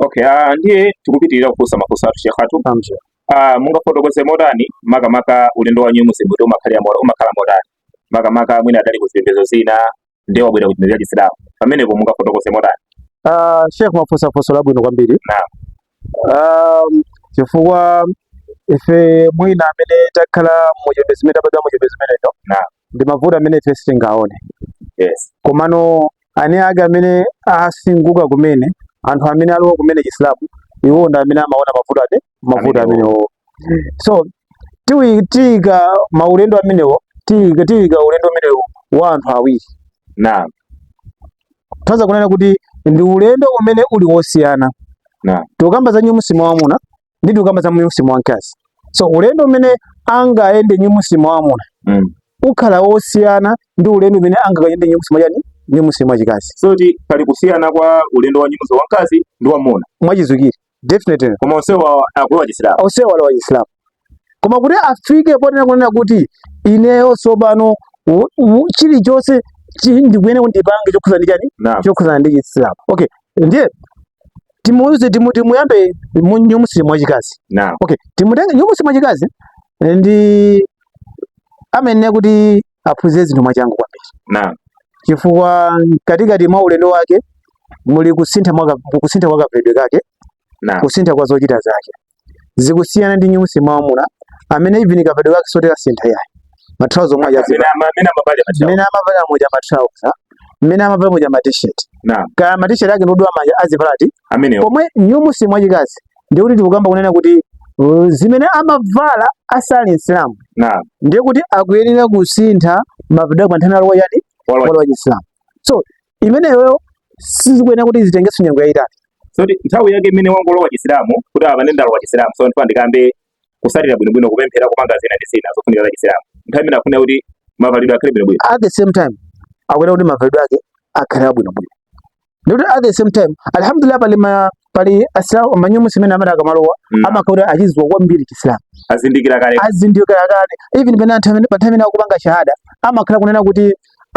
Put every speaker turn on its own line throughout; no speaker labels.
Okay, uh, ndiye tikupitirira kufunsa mafunso athu Sheikh athu. Ah, mungafotokoze motani makamaka ulendo wa new Muslim kuti umakhalira umakhala motani makamaka mwina adali ku zipembedzo zina ndiye wabwera kuchipembedzo cha chisilamu pamenepo mungafotokoze motani ah
sheikh mafunsa funso labwino kwambiri naam um chifukwa ife mwina amene takhala muchipembedzo chimene tabadwa muchipembedzo chimenecho naam ndi mavuto amene ife sitingaone
yes
komano anzake amene asinthika kumene anthu amene alowa kumene chisilamu iwo ndi amene amaona mavuto ati mavuto amenewo so tiika maulendo amenewo tiika tiika ulendo umenewo wa anthu awiri naam kutanthauza kunena kuti ndi ulendo umene uli wosiyana naam tikukamba za new muslim wamuna ndi tikukamba za new muslim wamkazi so ulendo umene angayende new muslim wamuna mm. ukhala wosiyana ndi ulendo umene angayende new muslim chani new muslim wachikazi so kuti pali kusiyana
kwa ulendo wa new muslim wamkazi ndi wamuna mwachizukire
Definitely. Koma
onsewa akulowa Chisilamu. Onsewa alowa
Chisilamu. Koma kuti afike potena kunena kuti ineyo tsopano chilichonse ndikuyenera kuti ndipange chokhudzana ndi chani? Chokhudzana ndi Chisilamu. Okay. Ndiye timuuze timu timuyambe new Muslim wachikazi. Naam. Okay. Timutenge new Muslim wachikazi ndi amene kuti aphunzire zinthu mwachangu kwambiri Naam. chifukwa mkatikati mwa ulendo wake muli kusintha mwa ka- kusintha kwa kavalidwe kake Naam. kusintha kwa zochita zake zikusiyana ndi new Muslim wamuna amene even kavalidwe kake sikuti kasintha yayi matrauza omwe aja aziva Amene ama- amene amavala machawo. mmene amavala moja matrauza mmene amavala moja matishet Naam. kaya matishet ake ndi odula manja azivala ati amene pomwe new muslim wachikazi ndiye kuti tikukamba kunena kuti uh, zimene amavala asali msilamu naam ndiye kuti akuyenera kusintha mavalidwe pa nthawi walowa chani walowa walowa chisilamu so imeneyo sizikuyenera kuti zitengenso nyengo yayitali soti nthawi yake
imene wangolowa chisilamu kuti apano ndalowa chisilamu so nditha ndikayambe kuswalira bwinobwino kupemphera kupanga zina ndi zina zofunika za chisilamu nthawi imene afunika kuti mavalidwe akhale bwinobwino at the same
time akuyenera kuti mavalidwe ake akhale abwinobwino ndikuti at the same time alhamdulillah pali ma pali asilamu ma new muslim amene amati akamalowa mm. amakhala kuti achidziwa kwambiri chisilamu azindikira
kale azindikira kale
even pena nthawi pa nthawi imene akupanga shahada amakhala kunena kuti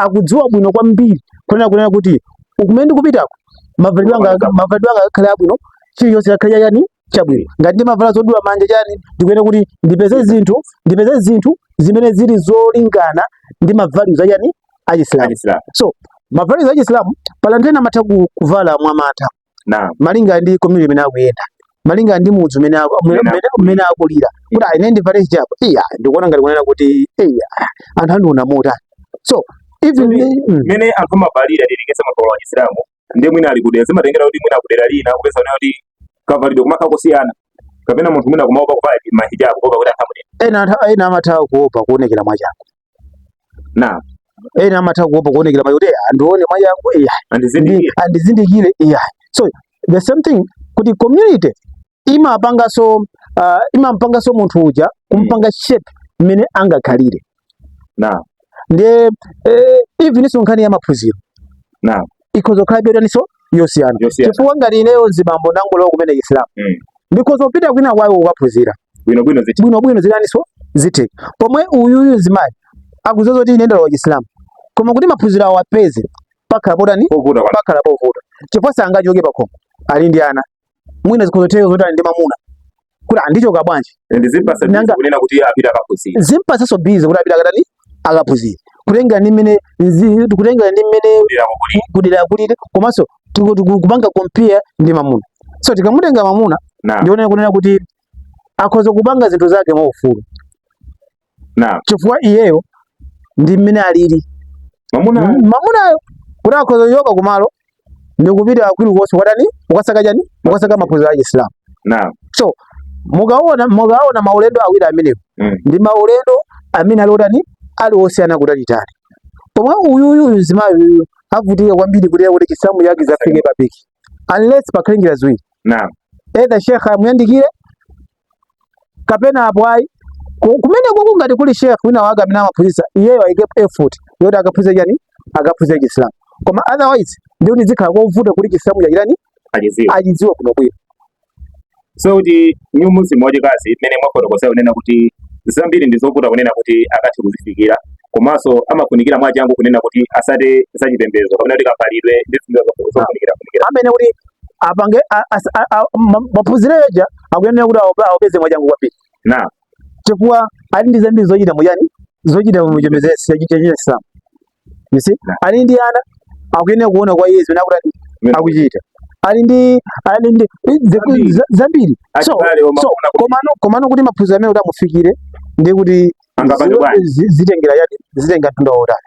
akudziwa bwino kwambiri kunena kunena kuti kumene ndikupitako mavalidwe anga mavalidwe anga akhale abwino chilichonse akhale chani chabwino ngati ndimavala zodula manja chani ndikuyenera kuti ndipeze zinthu ndipeze zinthu zimene zili zolingana ndi mavalues a chani achisilamu so mavalues achisilamu pala anthu ena amatha kuvala mwamantha malinga ndi community imene akuyenda malinga ndi mudzi umene umene akulira kuti ayi ine ndivale hijabu iya ndikuona ngati kunena kuti iya anthu andiona motani so even mene mm. anthu
amavalira ndilikesa mavalo wa Chisilamu ndiye mwina ali kudera zimatengera kuti mwina kudera lina kupeza nayo kuti kavalidwe kumakhala kusiyana kapena munthu mwina kumaopa kuvala mahijabu kuopa kuti anthu andione ena amatha kuopa
kuonekera mwachangu na ena amatha kuopa kuonekera mwai kuti andione mwachangu iya andizindikire iya so the same thing kuti community imapangaso uh, imampangaso munthu uja kumpanga shape mmene angakhalire na ndiye eh, even ndiso nkhani ya maphunziro na ikhoza kukhala yotaninso yosiyana Yosiyana. chifukwa ngati ineyo mzibambo ndangolowa kumene chisilamu Mm. ndikhoza kupita kwina kwawo kukaphunzira bwino bwino ziti bwinobwino zinaninso zitheka pomwe uyuyu mzimayi akudziwa zoti ine ndalowa chisilamu koma kuti maphunziro awapeze pakhala potani povuta kwa pakhala povuta chifukwa sangachoke pakhomo ali ndi ana mwina zikhozotheka zoti ali ndi mamuna kuti ndichoka
bwanji zimpatsaso busy kuti
apite akatani akaphunzire kutengera ndi mmene kutengera ndi mmene kudera kulili komanso kupanga compare ndi mamuna so tikamutenga mamuna ndiye ine kunena kuti akhoza kupanga zinthu zake mwaufulu na chifukwa iyeyo ndi mmene alili mamuna mm, mamunayo kuti akhoza kuchoka kumalo ndi kupita kwina kulikonse kukatani kukasaka chani kukasaka maphunziro a Chisilamu na so mukaona mukaona maulendo awiri amenewo mm. ndi maulendo amene ali otani ali osiyana kutalitali pomwe uyuyu uyu mzimayi uyu avutika kwambiri kuti kuti chisilamu chake chifike pa peak unless pakhale njira ziwiri na either sheikh amuyandikire kapena apo ayi Ku- kumenekuko ngati kuli sheikh wina wake amene amaphunzitsa iyeyo ayike effort yoti akaphunzitse chani akaphunzitse chisilamu koma otherwise ndiye kuti zikhala zovuta kuti chisilamu chija achitani achidziwe achidziwe bwino bwino
so kuti new muslim wachikazi mmene mwafotokozera kunena kuti zambiri ndi zovuta kunena kuti akathe kuzifikira komanso amafunikira mwachangu kunena kuti atsate zachipembedzo kapena kuti kavalidwe ndi zinthu zofunikira funikira zimene kuti
apange a- as- a- a- ma- maphunziro aja akuyenera kuti awapa- awapeze mwachangu kwambiri na chifukwa ali ndi zambiri zochita mu chani zochita mu chipembedzo cha Chisilamu you see ali ndi ana akuyenera kuona kwa iye zimene akuti Yeah. akuchita ali ndi ali ndi i- ze- Zambiri. za- zambiri so Achibale omwe so akufuna kuti- komano komano kuti maphunziro amenewo kuti amufikire ndi kuti Angapange zi- bwanji? zi- zitengera chani zitenga mtunda wautali